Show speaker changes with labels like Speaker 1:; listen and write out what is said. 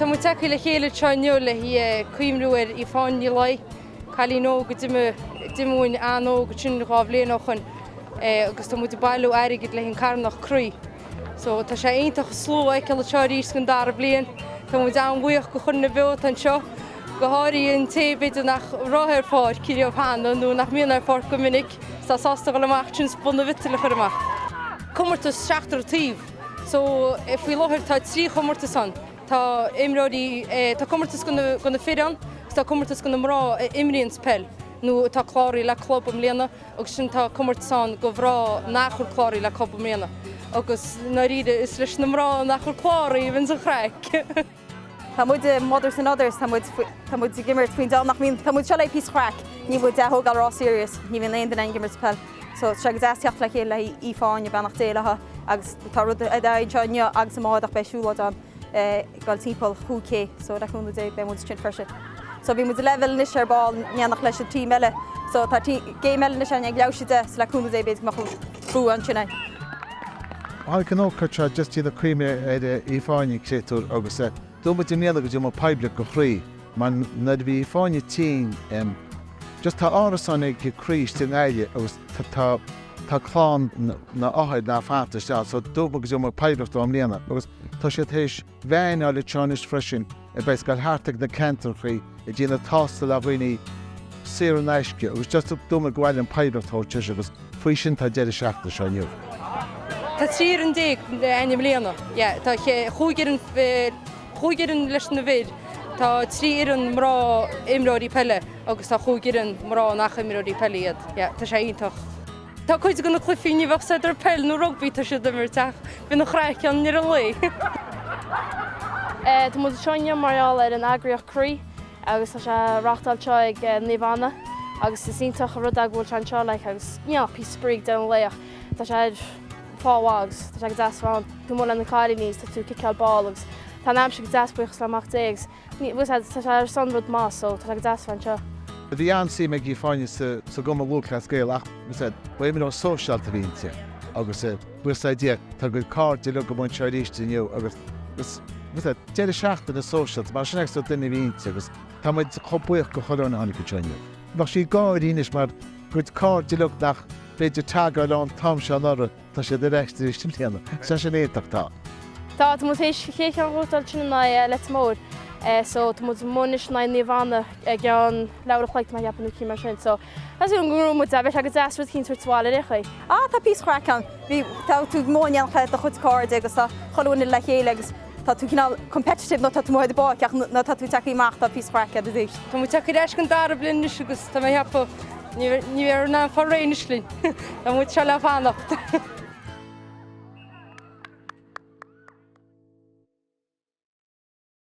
Speaker 1: Tá muid tagtha le chéile anseo inniu le haghaidh cuimhniú ar Aoife Áine Ní Laoi, cailín óg a d'imigh uainn an-óg ansin dhá bhliain ó shoin agus tá muid ag bailiú airgid le haghaidh an carthanacht Croí. So tá sé iontach an slua a fheiceáil anseo arís don dara bliain. Tá muid an-bhuíoch go chuile dhuine beo atá anseo, go háirithe an té b'fhéidir nach raibh ar pháirc riamh cheana nó nach mbíonn ar pháirc go minic, is atá sásta a dhul amach ansin is bun na mhiotail a chur amach. Comórtas seachtar taobh. So, faoi láthair tá trí chomórtas ann. Tá imreoirí, tá comórtas go na fir ann agus tá comórtas go na mná a imríonns peil nó atá cláraithe le club i mbliana agus ansin tá comórtas ann go mhná nach bhfuil cláraithe le club i mbliana agus i ndáiríre is leis na mná nach bhfuil cláraithe a bhíonns an chraic. Tá muid
Speaker 2: i Mothers and Others, tá muid tá muid ag imirt faoin dá nach mbíonn, tá muid seo le haghaidh píosa craic, níl muid á thógáil ró-serious, ní bhíonn aon duine ag imirt peil. So tá sé go deas teacht le chéile le haghaidh Aoife Áine beannacht Dé léi agus tá rud eicínt anseo inniu agus amárach beidh siúlóid ann ag goil timpeall chúig K so le cúnamh Dé beidh muid ansin freisin. So bhí muid level anois ar ball in éineacht leis an team eile so tá game eile anois ann ag labhairt de so le cúnamh Dé b'fhéidir go mbeadh Bua ansin
Speaker 3: againn. Tháinig an ócáid seo just i gcuimhne ar Aoife Áine, créatúr, agus dúirt muid i mbliana go dtabharfadh muid poiblíocht go Chroí, mar nuair a bhí Aoife Áine tinn, em just tá árasáin ag Croí istigh i nGaillimh agus tá tá clann na na othair in ann fanacht istigh so dúirt muid go dtabharfadh muid poiblíocht dóibh i mbliana agus tá siad théis Van a fháil le deireanas freisin a bheas ag goil thart ag na ceantrachaí ag déanamh tástáil ar dhaoine saor in aisce agus just dúirt muid gur mhaith linn poiblíocht a thabhairt leis agus faoi sin atá an deireadh seachtaine seo inniu. Tá
Speaker 1: trí fhoireann déag againn i mbliana. Tá chúig fhoireann chúig fhoireann leis na fir, Tá trí fhoireann mná imreoirí peile agus tá chúig fhoireann mná nach imreoirí peile iad. Tá sé iontach. Tá cuid de na cluichí ní bheadh a fhios agat ar peil nó rugbaí atá siad ag imirt ach bhí an-chraic ann i rith an
Speaker 4: lae. Tá muid anseo inniu mar gheall ar an eagraíocht Croí agus tá sé á reáchtáil anseo ag Naomh Anna agus is iontach an rud é go bhfuil sé anseo like agus you know píosa spraoi ag deireadh an lae ach tá sé ar fáth mhaith agus tá sé go deas ann. Tá tú amuigh leis na cailíní agus tá tú ag ciceáil ball agus tá an aimsir go deas buíochas le Mac Dé agus Ní, bhuel, tá sé ar son rud maith, so
Speaker 3: tá sé go deas a bheith anseo. Bhí an-suim ag Aoife Áine sa gCumann Lúthchleas Gael ach, bhfuil a fhios agat, ba imreoir sóisialta a bhí inti agus, eh, bhfuil a fhios agat, yeah, tá a cuid cairde uilig ag imirt anseo arís inniu agus, agus, bhfuil a fhios agat, deireadh seachtaine sóisialta, mar sin é an sórt duine a bhí inti agus tá muid chomh buíoch go chuile dhuine a tháinig anseo inniu. Bheadh sí ag gáirí anois mar a cuid cairde uilig nach féidir teagháil ann an t-am seo anuraidh. Tá siad ar ais tar éis na bliana. Sé sin iontach tá. Tá, tá muid
Speaker 4: tar éis chéad cheann a bhuachtáil in aghaidh Leitir Móir so tá muid amuigh anois in aghaidh Naomh Anna i gceann leathuair an chloig tá mé ag ceapadh nó eicínt mar sin so tá súil go raibh muid dá bheadh sé go deas rud eicínt a thabhairt abhaile ar aon chaoi. Ah tá píosa craic
Speaker 2: ann. Bhí, tá, tú amuigh in éineacht le do chuid cairde agus tá chuile dhuine le chéile agus Tá tú cineál competitive nuair atá tú amuigh ar an bpáirc ach nuair atá tú ag teacht amach tá píosa craic aríst. Tá muid ag teacht ar ais don
Speaker 1: dara bliain anois agus tá mé ag ceapadh ní bheifear in ann fáil réidh anois linn. Tá muid seo le fanacht.